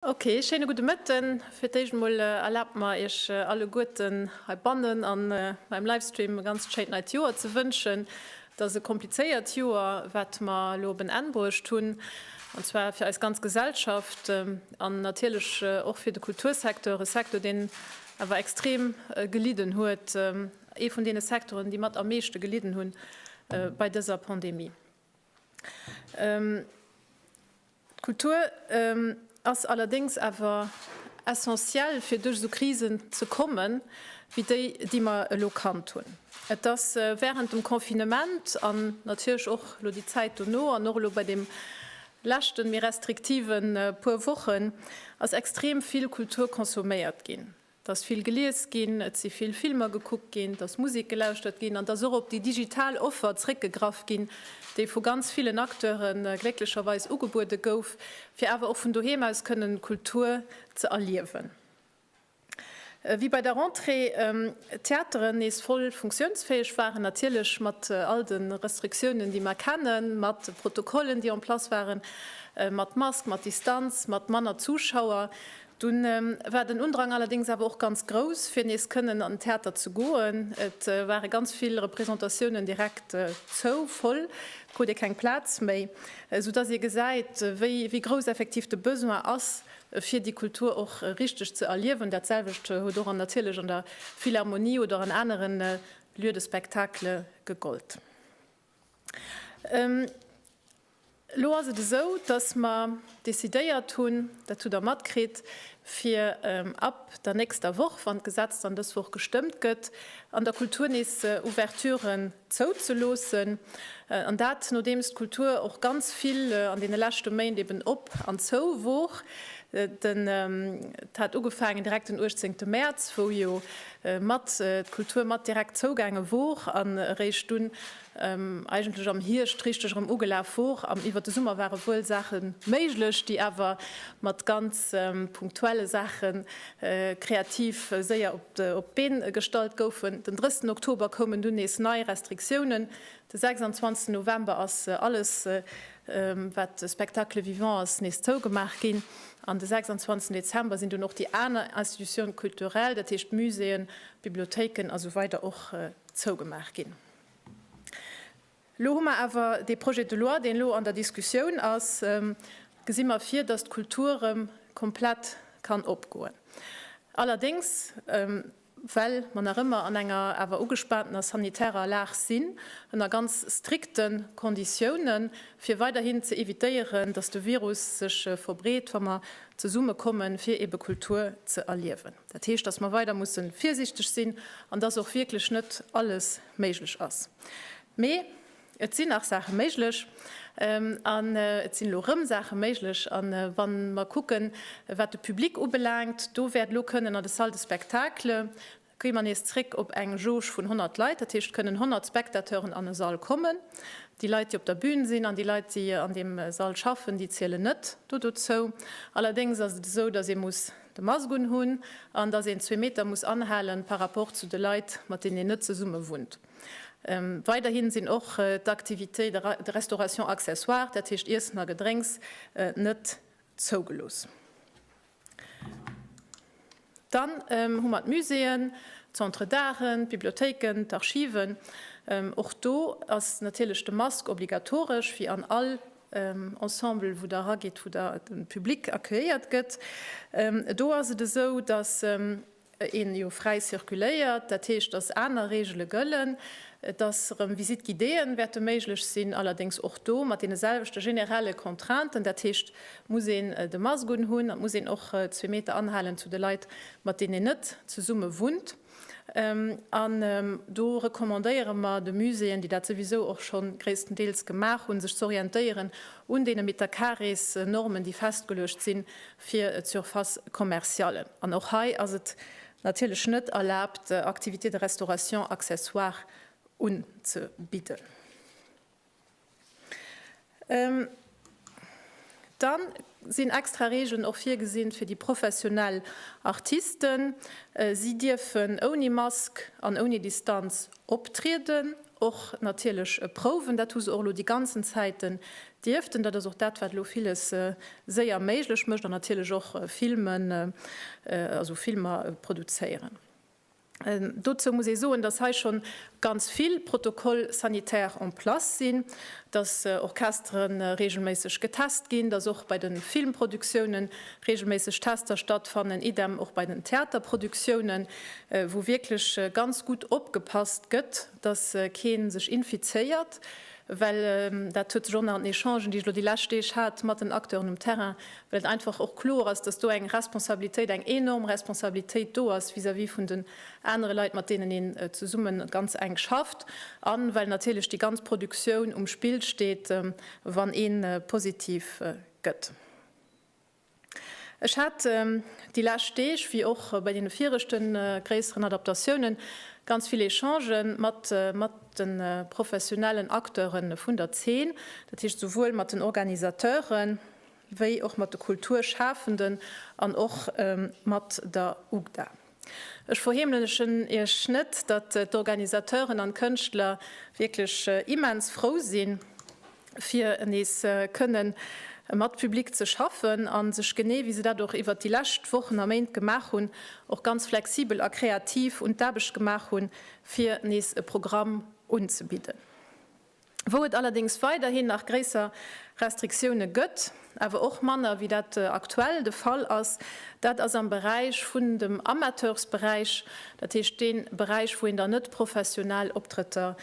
Ok, schéine gudde Mëtten. Fir d'éischt emol erlaabt mer iech alleguerten heibannen a beim Livestream e ganzt schéint neit Joer ze wënschen. Et ass e komplizéiert Joer, wat mer elo op en Enn bruecht hunn, an zwar fir eis ganz Gesellschaft an natierlech och fir de Kultursecteur, e Secteur deen awer extrem gelidden huet, ee vun deene Secteuren, déi mat am meeschte gelidden hunn bei dëser Pandemie. D'Kultur ass allerdéngs awer essentiel, fir duerch esou Krisen ze kommen, wéi déi, déi mer elo kannt hunn. Et ass wärend dem Confinement an natierlech och elo déi Zäit dono an och elo bei deem leschte méi restriktive puer Wochen ass extrem vill Kultur consomméiert ginn. 't ass vill gelies ginn, et si vill Filmer gekuckt ginn, 't ass Musek gelauschtert ginn an 't ass och op déi digital Offer zréckgegraff ginn, déi vu ganz villen Acteure glécklecherweis ugebuede gouf, fir awer och vun doheem aus kënnen Kultur ze erliewen. Wéi bei der Rentrée d'Theateren nees voll funktiounsfäeg waren, natierlech mat all de Restriktiounen, déi mer kennen, mat Protokollen, déi en place waren, mat Mask, mat Distanz, mat manner Zuschauer, Dunn war den Undrang allerdéngs awer och ganz grouss, fir nees kënnen an den Theater ze goen. Et ware ganz vill Representatiounen direkt zou, voll, krut ee keng Plaz méi, sou dass ee gesäit, wéi grouss effektiv de Besoin ass, fir déi Kultur och richteg ze erliewen. Dat selwecht huet och an natierlech an der Philharmonie oder an anere Lieux de spectacle gegollt. Elo ass et esou, dass mer decidéiert hunn, dat hutt Der matkritt, fir ab der nächster Woch, wann d'Gesetz dann dës Woch gestëmmt gëtt, an der Kultur nees Ouverturen zouzeloossen. An dat, nodeems d'Kultur och ganz vill an deene leschte Méint eben op an zou wor. Dat hat ugefaangen direkt den 18 Mäerz, wou jo mat d'Kultur mat direkt zougaange wor an eréischt dunn eigentlech am Hierscht richteg erëm ugelaf wor. An iwwer de Summer ware wuel Saache méiglech, déi awer mat ganz punktuelle Saache kreativ séier op d'Been gestallt goufen. Den 30 Oktober koumen dunn nees nei Restriktiounen, De 26 November ass alles wat Spectacle vivant ass nees zougemaach ginn. An de 26 Dezember sinn dunn och déi aner Institutions culturelles, dat heescht Muséeën, Bibliothéiken a sou weider och zougemaach ginn. Elo hu mer awer dee Projet de loi deen elo an der Diskussioun ass, gesi mer vir datt d'Kultur erëm komplett kann opgoen. Allerdéngs. Well mer nach ëmmer an enger awer ugespaantener sanitärer Lag sinn, ënner ganz strikte Konditiounen, fir weiderhin ze evitéieren, dass de Virus sech verbreet, wa mer zesumme komme fir ebe Kultur ze erliewen. Dat heescht, dass mer weider musse virsiichteg sinn an dass och wierklech net alles méiglech ass. Mee Et sinn nach Saache méiglech an et sinn elo erëm Saache méiglech. A wa mer kucken, wat de Public ubelaangt, do wäert elo kënnen an de Salles de spectacle, gi mer nees zréck op eng Jauge vun 100 Leit, dat heescht, et kënnen 100 Spectateuren an e Sall kommen. Déi Leit, déi op der Bün sinn an déi Leit, déi an deem Sall schaffen, déi zielen net do dozou. Allerdéngs ass et esou, datt ee muss de Mask unhunn an datt een zwee Meter muss anhalen par rapport zu de Leit, mat deenen een net zesummewunnt. Weiderhi sinn och d'Activités de restauration accessoire, dat heescht Iessen a Gedrénks, net zougelooss. Dann hu mer d'Muséeën, d'Centres d'arten, d'Bibliothéiken, d'Archiven. Och do ass natierlech de Mask obligatoresch, wéi an all Ensemble, wou Der eragitt, wou de Public accueilliert gëtt. Do ass et esou, dass een jo fräi zirkuléiert, dat heescht, dass aner Reegele gëllen, dass erëm Visites guidéeën wäerte méiglech sinn, allerdéngs och do mat deene selwechte generelle Contrainten, dat heescht, et muss een de Mask unhunn an et muss een och zwee Meter anhalen zu de Leit, mat deenen een net zesumme wunnt. An do recommandéiere mer de Muséeën, déi dat souwisou och scho gréisstendeels gemaach hunn, sech ze orientéieren un deene Metercarés-Normen, déi festgeluecht sinn, fir d'Surfaces commerciales. An och hei ass et natierlech net erlaabt, Activités de restauration accessoire unzebidden. Da sinn extra Regeln och virgesinn fir déi professionell Artisten. Si dierfen ouni Mask an ouni Distanz optrieden. Och natierlech Prouwen, dat hu se och elo déi ganzen Zäiten dierften. Dat ass och dat, wat elo villes séier méiglech mécht an natierlech och filmen, also Filmer produzéieren. Dozou muss ee soen, datt hei scho ganz vill Protocoles sanitaires en place sinn, datt Orchestere reegelméisseg getest ginn, datt och bei de Filmproduktiounen reegelméisseg Tester stattfannen, idem och bei den Theaterproduktiounen. wou wierklech ganz gutt opgepasst gëtt, dass kee sech infizéiert, well dat huet sech och nach an den Echangen, déi ech elo déi lescht Deeg hat mat den Acteuren um Terrain, well et einfach och kloer ass, dass do eng Responsabilitéit, eng enorm Responsabilitéit do ass vis-à-vis vun den anere Leit, mat deenen een zesumme ganz enk schafft, a well natierlech déi ganz Produktioun um Spill steet, wann ee positiv gëtt. Ech hat déi lescht Deeg, wéi och bei deene viregte gréisseren Adaptatiounen, ganz vill Echange mat de professionellen Acteure vun der Zeen, dat heescht souwuel mat den Organisateure wéi och mat de Kulturschafenden an och mat der UGDA. Ech verheemlechen Iech net, datt d'Organisateuren an d'Kënschtler wierklech immens frou si fir nees kënne mat Public ze schaffen a sech, genee wéi se dat och iwwert déi lescht Wochen a Méint gemaach hunn, och ganz flexibel a kreativ un d'Aarbecht gemaach hunn, fir nees e Programm unzebidden. Wou et allerdéngs weiderhin nach gréisser Restriktioune gëtt, awer och manner wéi dat aktuell de Fall ass, dat ass am Beräich vun dem Amateursberäich, dat heescht dee Beräich wou een dann net professionell Optrëtter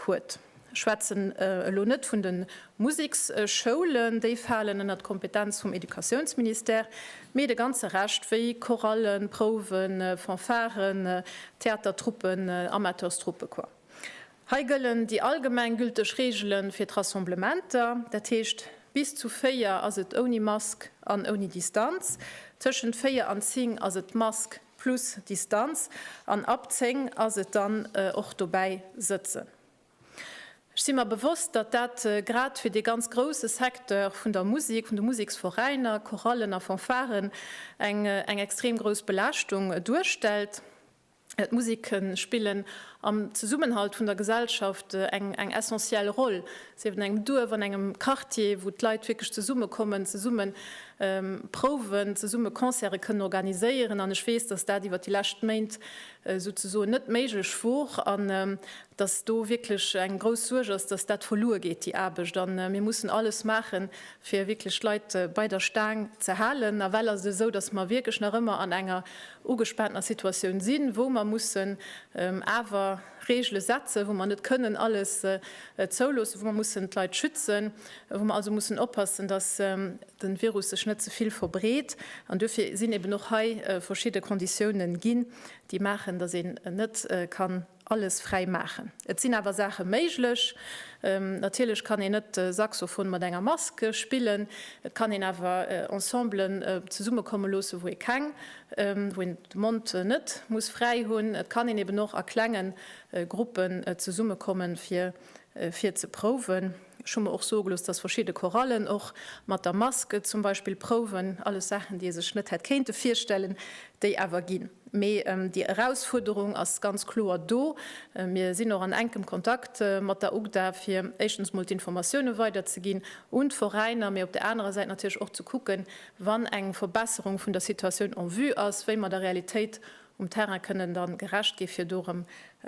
huet. Ech schwätzen elo net vun de Museksschoulen, déi falen ënnert d'Kompetenz vum Educatiounsministère, mee de ganze Rescht wéi Chorallen, Prouwen, Fanfaren, Theatertruppen, Amateurstruppe, quoi. Hei gëllen déi allgemeng gülteg Reegele fir d'Rassemblementer, dat heescht, bis zu véier ass et ouni Mask an ouni Distanz, tëschent véier an zéng ass et Mask plus Distanz an ab zéng ass et dann och dobäi sëtzen. Ech si mer bewosst, datt dat grad fir dee ganz grousse Secteur vun der Musek, vun de Museksveräiner, Chorallen a Fanfaren eng extrem grouss Belaaschtung duerstellt. D'Musique spillen am Zesummenhalt vun der Gesellschaft eng eng essentiell Roll, sief et an engem Duerf, an engem Quartier, wou d'Leit wierklech zesummekommen, zesumme prouwen, zesumme Concerte kënnen organiséieren. An ech weess, dass dat iwwert déi lescht Méint souzesoen net méiglech wor an dass do wierklech eng grouss Suerg ass, dass dat verluer geet, déi Aarbecht. A mir mussen alles maachen, fir wierklech d'Leit bei der Staang ze halen. Nawell ass et esou, datt mer wierklech nach ëmmer an enger ugespaantener Situatioun sinn, wou mer mussen awer Regele setzen, wou mer net kënnen alles zouloossen, wou mer mussen d'Leit schützen, wou mer also mussen oppassen, datt de Virus sech net ze vill verbreet. An duerfir sinn eben och hei verschidde Konditiounen ginn, déi maachen, datt een net kann, Alles fräi maachen. Et sinn awer Saache méiglech. Natierlech kann een net Saxophon mat enger Mask spillen. Et kann een awer Ensemblen zesummekomme loosse wou ee keng, wou een de Mond net muss fräi hunn. Et kann een eben och a klengen Gruppen zesummekommen fir fir ze prouwen. Ech hu mer och soe gelooss, dass verschidde Chorallen och mat der Mask zum Beispill prouwen, alles Saachen, déi ee sech net hätt kéinte virstellen, déi awer ginn. Mee déi Erausfuerderung ass ganz kloer do. Mir sinn och an enkem Kontakt mat der UGDA, fir éischtens emol d'Informatioune weiderzeginn un d'Veräiner, mee op der anerer Säit natierlech och ze kucken, wann eng Verbesserung vun der Situatioun en vue ass, wéi mer der Realitéit um Terrain kënnen da gerecht gi fir do erëm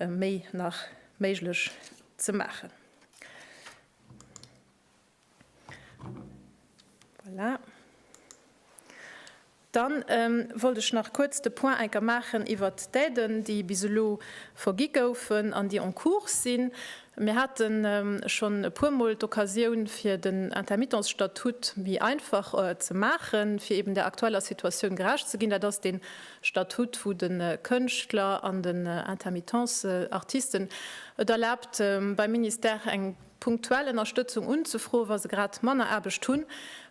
méi nach méiglech ze maachen. Voilà. Dann wollt ech nach kuerz de Point enker maachen iwwer d'Aiden, déi bis elo vergi goufen an déi en cours sinn. Mir hate schonn e puermol d'Occasioun, fir den Intermittence-Statut méi einfach ze maachen, fir eeben där aktueller Situatioun gerecht ze ginn. Dat ass dee Statut vu de Kënschtler an den Intermittence Artisten et erlaabt, beim Ministère eng punktuell Ënnerstëtzung unzefroen, wa se grad manner Aarbecht hunn,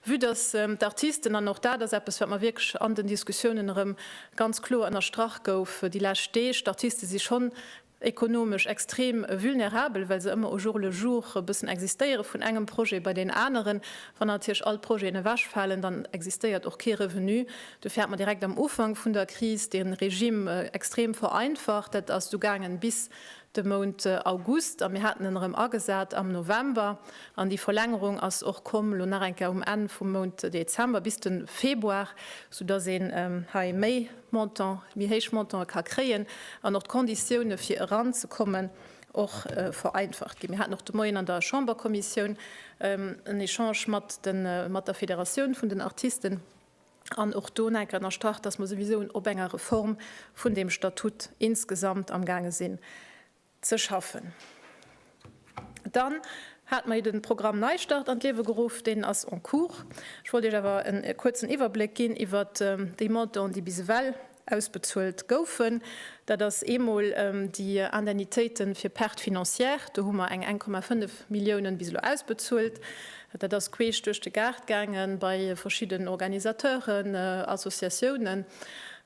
vue dass d'Artisten, an och dat ass eppes, wat mer wierklech an den Diskussiounen erëm ganz kloer ënnerstrach gouf déi lescht Deeg, d'Artiste si schonn ekonomesch extrem vulnerabel, well se ëmmer au jour le jour e bëssen existéiere vun engem Projet bei deen aneren. Wann natierlech all d'Projeten ewechfalen, dann existéiert och kee Revenu. Dofir hat mer direkt am Ufank vun der Kris de Regime extrem vereinfacht. Dat ass du gaangen bis de Mount August a mir haten en erëm agesat am November. An déi Verlängerung ass och komm elo nach eng Kéier um Enn vum Mount Dezember bis de Februar, soudass een hei méi Montant, méi héich Montanten ka kréien an och d'Konditioune fir eran ze kommen och vereinfacht ginn. Mir haten och de Moien an der Chamberkommissioun en Echange mat der Federatioun vun den Artisten an och do enker ënnerstrach, dass mer souwisou op enger Reform vun deem Statut insgesamt amgaange sinn. ze schaffen. Dann hat mer den Programm Neistart an d'Liewe geruff, deen ass en cours. Ech wollt Iech awer en kuerzen Iwwerbléck ginn iwwert déi Montanten, déi bis ewell ausbezuelt goufen. Dat ass eemol déi Indemnitéiten fir Pertes financières, do hu mer eng 1,5 Milliounen bis elo ausbezuelt. Dat ass queesch duerch de Gaart gaangen bei verschidden Organisateuren, Associatiounen.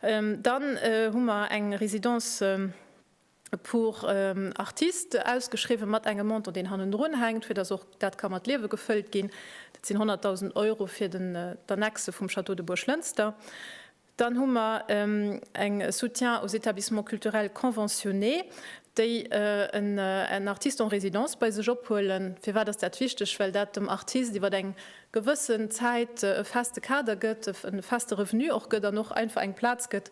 Dann hu mer eng Résidence. pour artistes ausgeschriwwen, mat engem Montant, deen hannendrun hänkt, fir dass och dat ka mat Liewe gefëllt ginn. Dat sinn 100.000 Euro fir d'Annexe vum Château de Buerglënster. Dann hu mer eng Soutien aux établissements culturels conventionnés, déi en artiste en résidence bei sech ophuelen. Firwat ass dat wichteg? Well dat dem Artist iwwer eng gewëssen Zäit e feste Kader gëtt, e feste Revenu och gëtt an och einfach eng Plaz gëtt,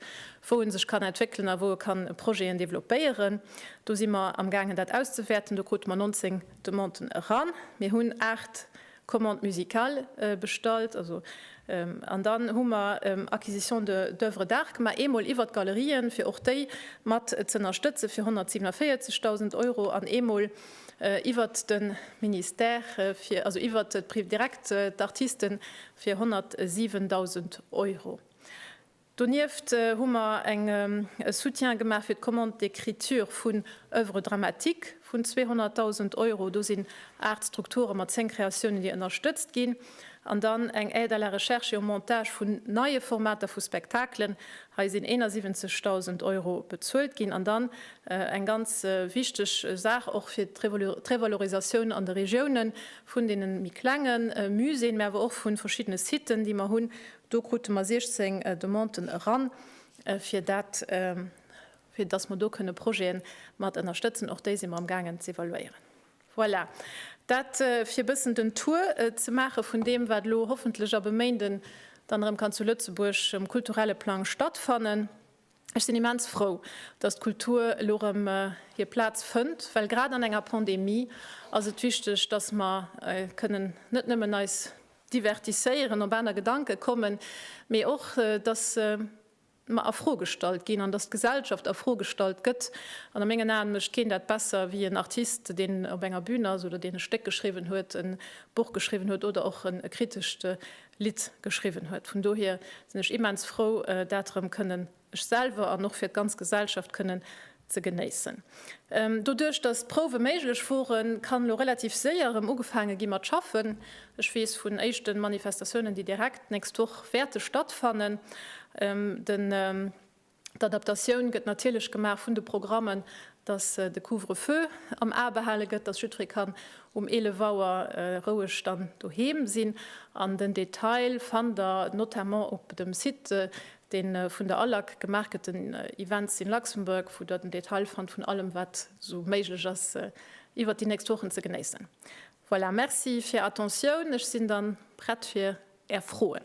wou e sech kann entwéckelen a wou e kann Projeten développéieren. Do si mer amgaangen, dat auszewäerten. Do krute mer 19 Demanden eran. Mir hunn aacht Commandes musicales bestallt. Also, an dann hu mer Acquisition d'oeuvres d'art gemaach, eemol iwwert d'Galerien, fir och déi mat z'ënnerstëtzen, fir 147.000 Euro an eemol iwwert de Ministère, also iwwert direkt d'Artiste fir 107.000 Euro. Donieft hu mer e Soutien gemaach fir d'Commande d'écriture vun Oeuvres dramatiques vun 200.000 Euro. Do sinn aacht Strukture mat zéng Kreatiounen, déi ënnerstëtzt ginn. An dann eng Aide à la recherche et au montage vun neie Formater vu Spektakelen. Hei sinn 71.000 Euro bezuelt ginn. An dann Eng ganz wichteg Saach och fir d'Revalorisatioun an de Regiounen vun deenen méi klenge Muséeën, mä awer och vun verschiddene Siten, déi mer hunn. Do krute mer 16 Demanden eran, fir dat, fir dass mer do kënne Projete mat ënnerstëtzen. Och déi si mer amgaangen ze evaluéieren. Voilà, dat fir e bëssen den Tour ze maache vun deem, wat elo hoffentlech ab e Méinden dann erëm kann zu Lëtzebuerg um kulturelle Plang stattfannen. Ech sinn immens frou, datt d'Kultur elo erëm hir Plaz fënnt, well grad an enger Pandemie ass et wichteg, datt mer kënnen net nëmmen eis divertisséieren, op aner Gedanke kommen, mee och datt mer a Fro gestallt ginn an datt d'Gesellschaft a Fro gestallt gëtt. An a mengen Aen mécht keen dat besser wéi en Artist, deen op enger Bün ass oder deen e Stéck geschriwwen huet, e Buch geschriwwen huet oder och e kritescht Lidd geschriwwen huet. Vun dohier sinn ech immens frou, dat erëm kënnen ech selwer an och fir d'ganz Gesellschaft kënnen ze genéissen. Doduerch, dass d'Prouwe méiglech woren, kann elo relativ séier erëm ugefaange gi mat schaffen. Ech weess vun éischte Manifestatiounen, déi direkt d'nächst Woch wäerte stattfannen. Den. D'Adaptatioun gëtt natierlech gemaach vun de Programmen, datt de Couvre-feu am A behale gëtt, datt jiddweree kann um 11 Auer roueg dann doheem sinn. An den Detail fannt der notamment op dem Site, dee vun der ALAC gemaach gëtt, den Events in Luxembourg, wou der den Detail fannt vun allem, wat esou méiglech ass iwwert déi nächst Wochen ze genéissen. Voilà, Merci fir Attentioun. Ech sinn dann prett fir Är Froen.